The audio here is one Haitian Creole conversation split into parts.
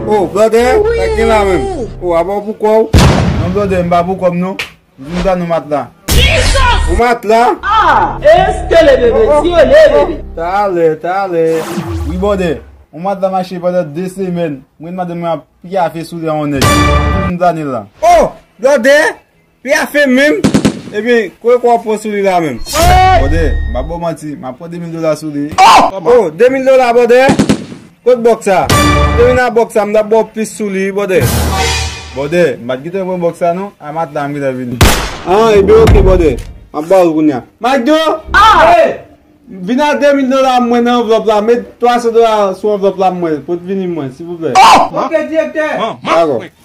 Oh blòdè, sa k gen la menm? Oh a ba w pou kò w? Non blòdè, m pa pou kò m non. M vin ba nou matla. Yon matla? Ah! Eskele bebe, ti yo lè bebe. Talè, talè. Wi bòdè, yon matla mache pandan 2 semèn. Mwen madanm mwen ap pyafe sou li an yon nèt. M vin ba nou l la. Oh! Blòdè! Pia fem menm Ebyen koe kwa pwan sou li la menm. Bòdè mpa baw manti ma pwan 2000 dola sou li. Oh 2000 dola bòdè kot bòks sa. Te vin a bòks sa mtap baw plis sou li wi bòdè. Bòdè mpat gentan pran bòks sa non a matla m gentan vini. An ebyen ok bòdè map baw l kounya. Macdo Hey vin a 2000 dola mwen nan anvlòp la met 300 dola sou anvlòp la mwen pot vini mwen silvouplè. Ok direktè. Dakò.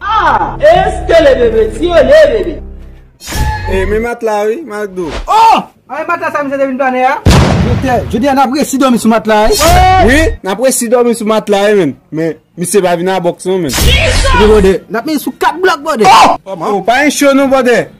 Ahh eske le bebe ti yo le bebe. Hey men matla wi Macdo. Oh! Anmwey matla sa misye te vin planen a. Doktè, jodi a nap resi domi sou matla wi. Wi, nap resi domi sou matla wi men. Men, misye pa vin a box non men. Chire bòdè, nap mete sou 4 blòk bòdè. Oh! Ou pa en cho non bòdè.